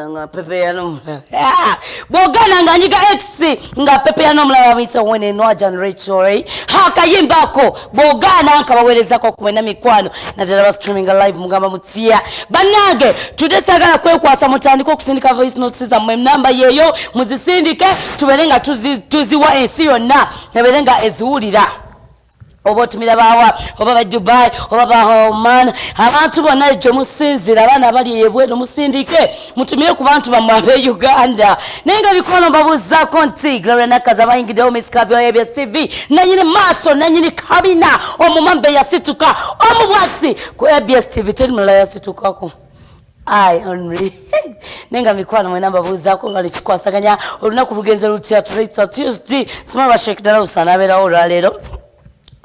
nga pepeya nomulala ah! bwogana nga nyiga x nga pepeya nomulala bamuyise wene nwajan rachel hakayimba ako bwogana nkabawerezako kumwena mikwano naddala ba streaminga live mugamba mutya banange tudde sagala kwekwasa mutandike okusindika voice notes zammwe namba yeyo muzisindike tubeere nga tuziwa ensi yonna ebeere nga eziwulira oba otumira bawa oba ba dubai oba ba oman abantu bonna ekyo musinzira abaana abali ebweno musindike mutumire ku bantu bamwe abe uganda naye nga bikono mbabuzaako nti gloria nakaza bayingiddewo misikavi wa abs tv nanyini maaso nanyini kabina omumambe yasituka omu bwati ku abs tv teri mulala yasitukako Ayi Henry naye nga mikwano mwena mbabuuzaako nga nekikwasaganya olunaku lugenze lutya tulaitsa Tuesday sima ba Sheikh Dalaus anaabeerawo olwaleero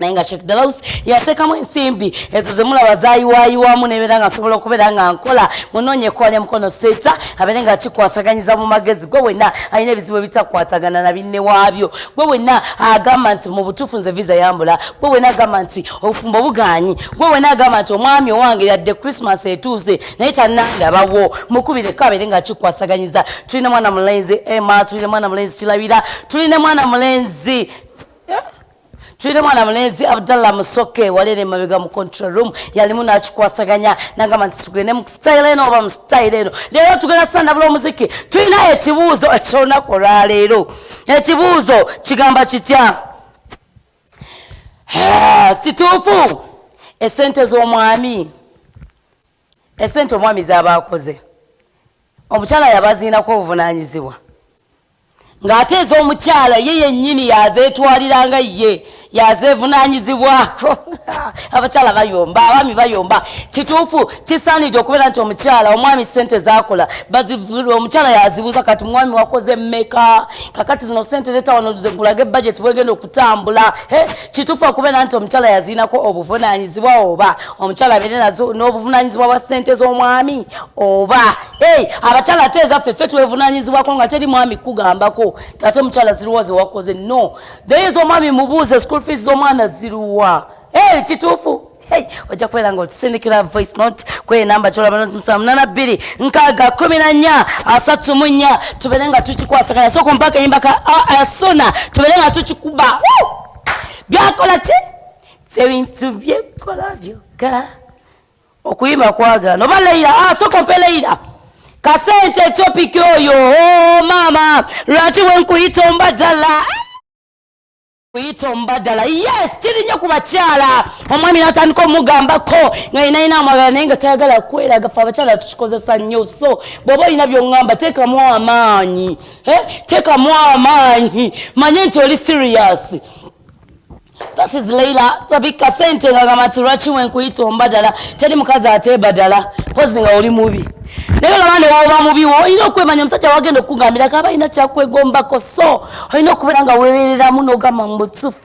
naye nga Sheikh Dalaus yateekamu ensimbi ezo ze mulaba zaayiwaayiwamu nebeera nga nsobola okubeera nga nkola munoonye kwalya mukono seeta abeere nga akikwasaganyiza mu magezi gwe wenna alina ebizibu ebitakwatagana na binne waabyo gwe wenna agamba nti mu butuufu nze viza yambula gwe wenna agamba nti obufumbo bugaanyi gwe wena agamba nti omwami owange yadde christmas etuuse naye tanandabawo mukubire kabere nga kikwasaganyiza tulina mwana mulenzi emma tulina mwana mulenzi kirabira tulina mwana mulenzi tulina mwana mulenzi abdallah musoke walera emabega mu control room yalimu nakikwasaganya nagamba nti tugende mu style eno oba mu style eno leero tugenda sandabula omuziki tulina ekibuuzo ekyolunaku olwaleero ekibuuzo kigamba kitya kituufu esente z'omwami esente omwami zaba akoze omukyala yabaziinako obuvunanyizibwa ng'ate ez'omukyala ye yennyini yazeetwalira nga ye yazeevunaanyizibwako abakyala bayomba abaami bayomba kituufu kisaanidde okubeera nti omukyala omwami ssente zaakola omukyala yazibuuza kati mwami wakoze mmeka kakati zino ssente leeta wano zekulage bajeti bwegenda kutambula kituufu okubeera nti omukyala yaziinako obuvunaanyizibwa oba omukyala abeere nazo n'obuvunaanyizibwa bwa ssente z'omwami oba abakyala ate ezaffe ffe twevunaanyizibwako nga teri mwami kugambako ate omukyala ziruwa zewakoze no naye ez'omwami mubuuze school fees z'omwana ziruwa kituufu Hey, ojja kubeera nga otusindikira voice note kweye namba kyolaba noti musanvu munana bbiri nkaaga kumi na nnya asatu mu nnya tubeere nga tukikwasaganya so kumpaka eyimba ka asuna tubeere nga tukikuba byakola ki tebintu byekola byokka okuyimba kwagana oba leira ah, soko mpe leira kasente etopiki oyo oh, maama lwaki wenkuyita ombadala kuyita omubadala yes kiri nnyo ku bakyala omwami natandika omugambako nga yinayina amwagala naye nga tayagala kweraga fe abakyala tukikozesa nnyo so bwoba olina byoŋŋamba teekamu amaanyi eh, teekamu amaanyi manye nti oli serious that is leila tabika sente nga gamati lwaki wenkuyita ombadala teri mukazi ate badala pozi nga oli mubi naye laba newoba mubi wo olina okwemanya omusajja wagenda okukugambira kaba alina kyakwegombako so olina okubeera nga webereramu nogamba mubutufu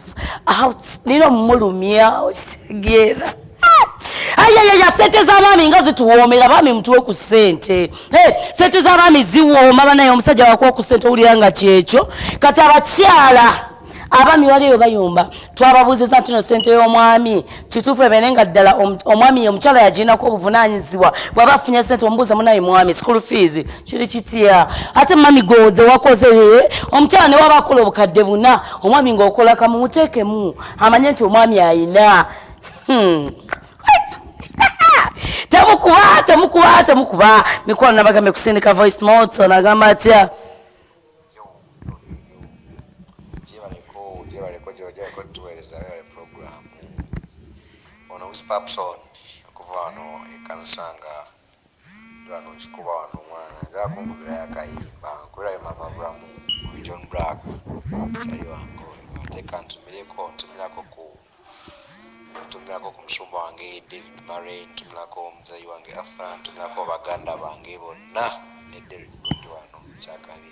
nina omumulumya okitegeera ayayaya sente zabaami nga zituwoomera baami mutuwe ku sente sente zabaami ziwooma banaye omusajja wakuwa ku sente owulira nga kyekyo kati abakyala abami wali eyo bayumba twababuuziza ntino sente y'omwami kituufu ebene nga ddala omwami ye omukyala yagirinako obuvunanyizibwa bwaba afunye sente omubuuza munaye mwami school fees kiri kitya ate mami goze wakoze ye omukyala ne waba akola obukadde buna omwami ngaokola kamu muteekemu amanye nti omwami ayina hmm. temukuba temukuba temukuba mikwano nabagambe kusindika voice notes onagamba atya Spapson okuva wano ekanisa nga Lwano nkikuba wano omwana ayagala kunkubirayo akayimba nkubire ayo mama Ramu from John Blaq mukyali wange oyo ate kantumireko ntumirako ku ntumirako ku musumba wange David Murray ntumirako muzeeyi wange Arthur ntumirako baganda bange bonna ne Derrick Gondi wano Kyakabi.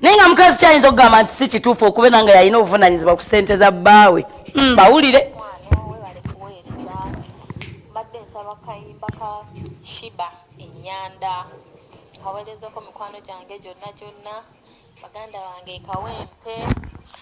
naye nga mukazi kyayinza okugamba nti si kituufu okubeera nga yalina obuvunanyizibwa ku sente za bbaawe hmm, bawulire kawerezeko mikwano gyange gyonna gyonna baganda bange kawempe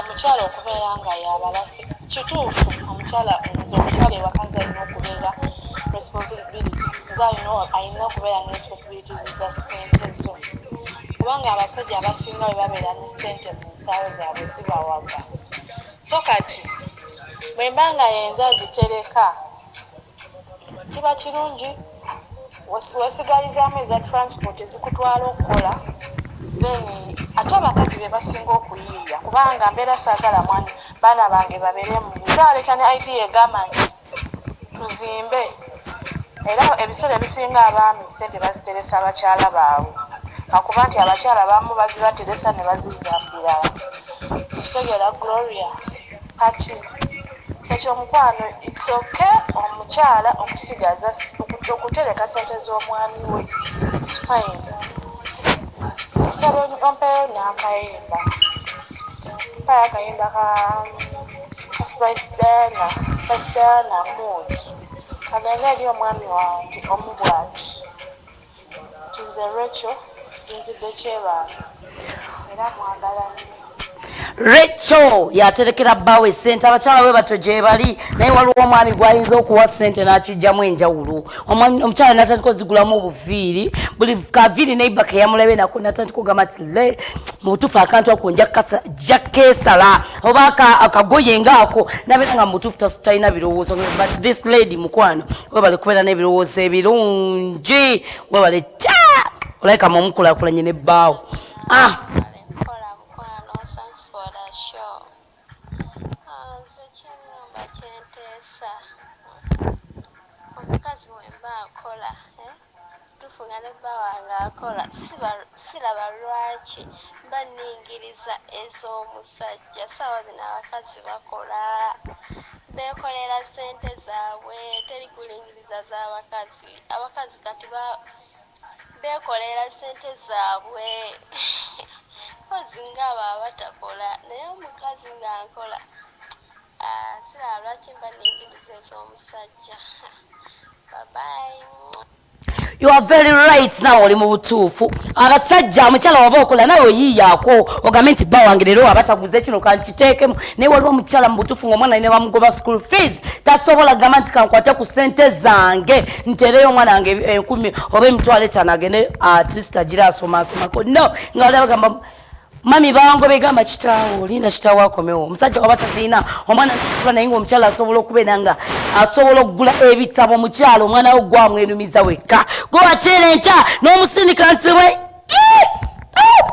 Omukyala okubeera nga yabalasi kituufu omukyala nze omukyala ewaka nze alina okubeera responsibility nze alina alina okubeera ne responsibilities za ssente zo kubanga abasajja abasinga bwe babeera ne ssente mu nsaawo zaabwe zibawaga so kati bwe mba nga yenze azitereka Kiba kirungi wesigalizaamu eza transport ezikutwala okukola then ate abakazi bebasinga okuyiiya kubanga mbeera saagala baana bange baberemu nze aleeta ne idea egamba nti tuzimbe era ebiseera ebisinga abaami sente baziteresa bakyala baabwe lwakuba nti abakyala abamu bazibateresa nebazizza birala okitegeera Gloria. Kati Kati omukwano it's ok omukyala okusigaza okutereka sente zomwami we it's fine nsaba ompeyo nakayimba mpayo akayimba ka ka spice diana spice diana mood kagende eri omwami wange omu bwati Kati nze Recho sinzidde kyebaana era mwagala nnyo. Recho yaterekera bbaawe ssente abakyala bwe batyo gyebali naye waliwo omwami gwayinza okuwa ssente n'akijjamu enjawulo omukyala natandika ozigulamu obuviiri buli kaviiri neiba keyamulabye nako natandika ogamba ti le mubutuufu akantu ako nja keesala oba akagoye ngaako nabeera nga mubutuufu talina birowoozo but this lady mukwano webale kubeera n'ebirowoozo ebirungi webale kya olabika mu omukulakulanye ne bbaawo ah. Kituufu nga ne bba wange akola siraba lwaki mba ningiriza ez'omusajja saawa zino abakazi bakola bekolera sente zabwe teri kulingiriza za bakazi abakazi kati bekolera sente zabwe mpozi nga abo abatakola naye omukazi nga nkola Aah silaba lwaki mba ningiliza ezomusajja bye bye. You are very right nawe oli mubutuufu abasajja mukyala waba okola nawe oyiyaako ogambe nti bba wange leero waba taguze kino kankiteekemu naye waliwo omukyala mubutuufu ngaomwana ine bamugoba school fees tasobola gamba nti kankwate ku sente zange ntereyo omwana wange enkumi oba emitwalo etano agende atleast agira asomaasomako no nga wali abagamba mami bango begamba kitaawo linda kitaawo akomewo omusajja waba tazirina omwana akula naye nga omukyala asobola okubeera nga asobola okugula ebitabo omukyala omwana wo gwamwenumiza wekka gwe wakyera enkya n'omusindika nti we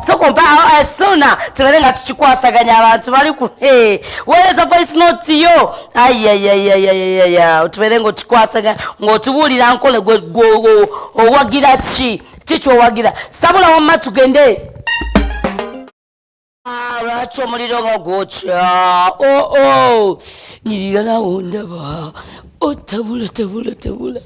sokompa esuna eh, eh, tulabe nga tukikwasaganya abantu bali ku eh, weereza voice note yo ayayayayayaya otubeere nga okikwasaganya ng'otubuulira nkole gwe owagira ki kikyowagira sabula wamma tugende ah, lwaki omuliro nga gwokya oo oh, oh. nyirira nawo ndaba otabula oh, tabula tabula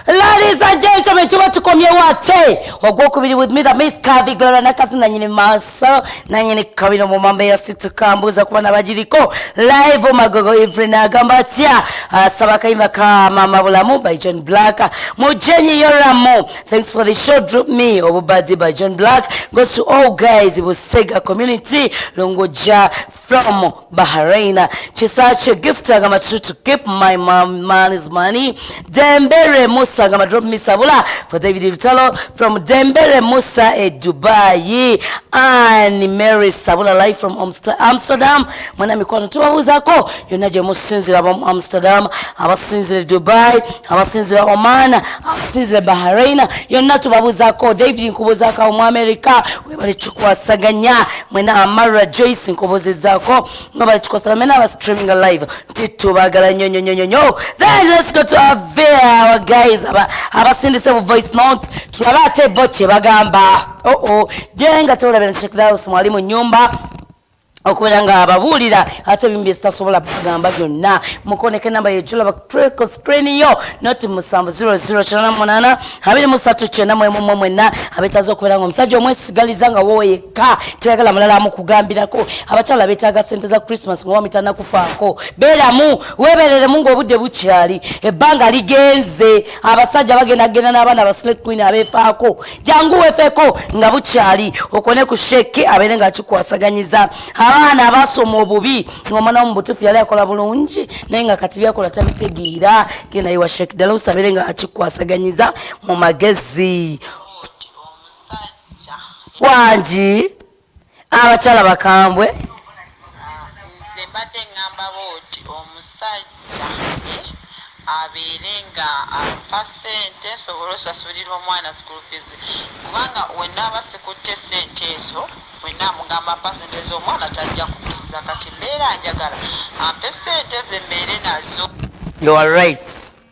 Ladies and gentlemen, tuba tukomyewo ate ogwokubiri with me the miss Kathy Gloria Nakasi nanyini maso so nanye ne kabino mu mambe ya situ kambuza kuba nabajiriko live magogo evening agamba atya asaba ah, kaimba ka mama bulamu by John Black mujenyi yoramo thanks for the show drop me obubadi by John Black goes to all guys busega community longoja from Bahrain. Chisache gift agamba to keep my mom man's money. Dembere Musa agamba drop me sabula for David Lutalo from Dembere Musa e Dubai. And Mary Sabula live from Amsterdam. Mwana mikwano tubabuuzako yonna gye musinzira mu Amsterdam, abasinzira Dubai, abasinzira Oman, abasinzira Bahrain. Yonna tubabuuzako David nkubuuzako mu America balikikwasaganya mwena amara joyce nkobozezaako nga balikikwasaganya mwena aba streaming live nti tubagala nyo nyo nyo nyo then let's go to our our guys aba abasindise bu voice note tulabe ate bo kye bagamba oh oh jenga tolabira check out mwali mu nyumba okubeera nga ababuulira ate ebimu byezitasobola bagamba byonna mukoneka enamba yejulaba kutreko screen yo noti musanvu 0088 abiri musatu kyenda mwemumwe mwenna abetaaza okubeera nga omusajja omwesigaliza nga wowe yekka teyagala mulala amukugambirako abakyala betaaga sente za christmas nga wamitana kufaako beeramu webereremu ngaobudde bukyali ebbanga ligenze abasajja bagenda kugenda n'abaana ba snake queen abefaako jangu wefeko nga bukyali okone ku sheke abeere nga akikwasaganyiza abaana abasoma obubi ngomwana wo mubutufu yali akola bulungi naye nga kati byakola tabitegeera genda iwa shek ddala osabeere nga akikwasaganyiza mu magezi wangi abakyala bakambwe nze mbadde ŋŋamba booti omusajja ye abeere nga ampa ssente nsobole osasulira omwana school fees kubanga wenaaba sikutte ssente ezo wenna amugamba mpa ssente z'omwana tajja kukkiriza kati mbeera njagala ampe ssente ze mbeere nazo you are right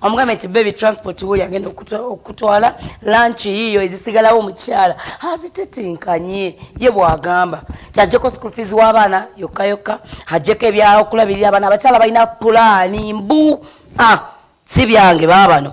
amugambye nti bebi transport woli agenda okutwala lanki yiyo ezisigalawo omukyala azititinkanye ye bwagamba ti ajjeko school fees w'abaana yokka yokka ajjeko ebyaokulabirira abaana abakyala balina pulaani mbu a ah, si byange baabano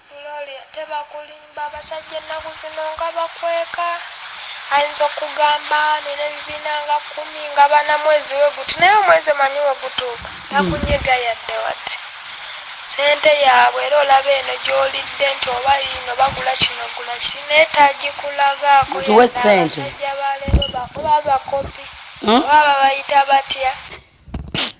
Gloria tebakulimba abasajja ennaku zino nga bakweka ayinza okugamba nina ebibiina nga kumi nga bana mwezi weguti naye omwezi manyi wegutuuka takunyega yadde wati sente yaabwe era olaba eno gyolidde nti oba yino bagula kino gula ki naye tagikulagaako abasajja baleero bakuba bakopi hmm? oba babayita batya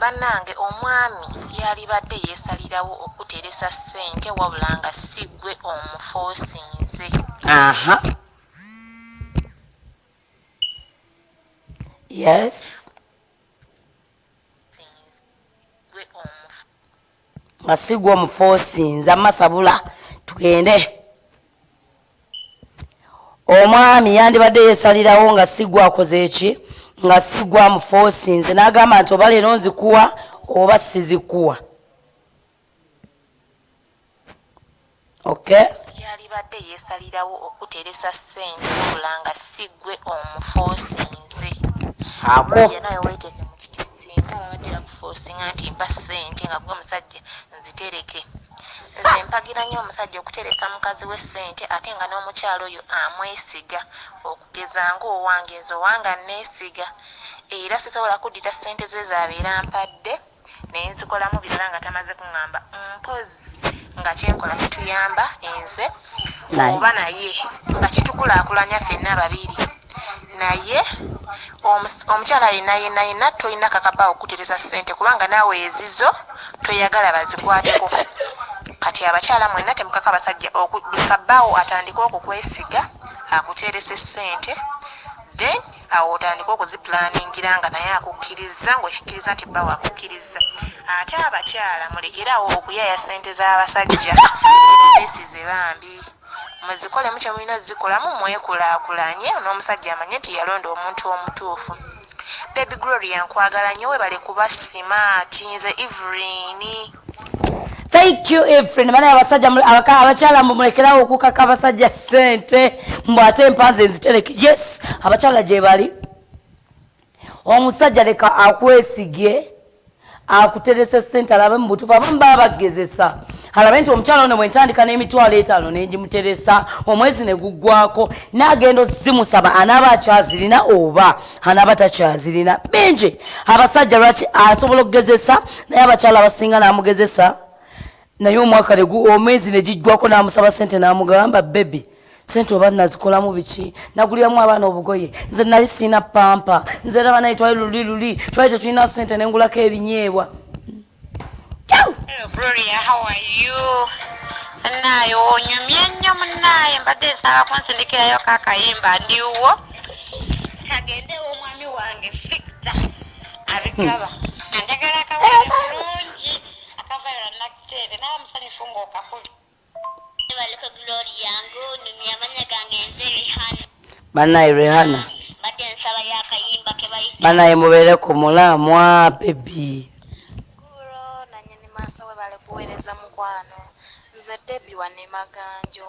Banange omwami yalibadde yesalirawo okukuteresa sente wabula nga sigwe omufosinze. nga sigwa omufosinza masabula tugende omwami yandibadde yesalirawo nga sigwa akoze eki nga sigwa mufosinze nagamba nti oba leero nzikuwa oba sizikuwa Okay. Yalibadde yesalirawo okuteresa sente wabula nga si gwe omufosinze. Ako. Maria nawe weteke mukiti singa babadde bakufosinga nti mpa sente nga gwe musajja nzitereke. Nze mpagira nyo omusajja okuteresa mukazi we sente ate nga n'omukyala oyo amwesiga okugeza nga owange nze owanga nesiga era sisobola kuddita sente ze zabeera ampadde. ne nzikolamu birala nga tamaze kuŋŋamba mpozzi nga kye nkola kituyamba nze oba naye nga kitukulaakulanya ffenna babiri naye omukyala yenna yenna yenna tolina kakaba okukutereza ssente kubanga naawe ezizo toyagala bazikwateko kati abakyala mwenna temukaka abasajja buli kabbaawo atandike okukwesiga akuteerese ssente then Awo otandike okuzipulaningira nga naye akukkirizza ng'okikkiriza nti bbawo akukkirizza. Ate abakyala mulekere awo okuyaaya ssente z'abasajja beesize bambi. Muzikolemu kye mulina ozikolamu mwekulaakulanye n'omusajja amanye nti yalonda omuntu omutuufu. Baby Gloria nkwagala nnyo weebale kuba simaati. Nze Evelyn. Thank you Efrain. Maana abasajja abakyala mbu mulekerawo okukaka abasajja sente mbu ate empanze nzitereke. Yes, abakyala gye bali. Omusajja leka akwesigie akuterese sente alabe mu butufu abamu baba bagezesa. Alabe nti omukyala ono bwentandika n'emitwalo etaano ne ngimuteresa omwezi ne guggwako n'agenda ozimusaba anaaba akyazirina oba anaba takyazirina bingi abasajja lwaki asobola okugezesa naye abakyala abasinga namugezesa naye omwaka omwezi negijjwako namusaba sente namugamba bebi sente oba nazikolamu biki naguliramu abaana obugoye nze nali sirina pampa nze era banaye twali luli luli twali tetulina sente nengulako ebinyeebwa Gloria, how are you? Munnaaye onyumye nnyo munnaaye mbadde nsaba kunsindikirayo ka kayimba ndiwo kagende omwami wange fikta abigaba anjagala akawere bulungi akavalira nakuteebe nawe musanyufu ngaokakuli banaye rehana banaye mubeere ku mulamwa bebi nze debi wanemaganjo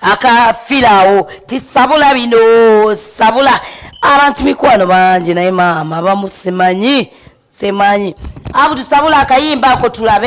akafiraawo ti sabula bino sabula abantu mikwano bangi naye maama bamusimanyi simanyi abutusabula akayimba ako tulabe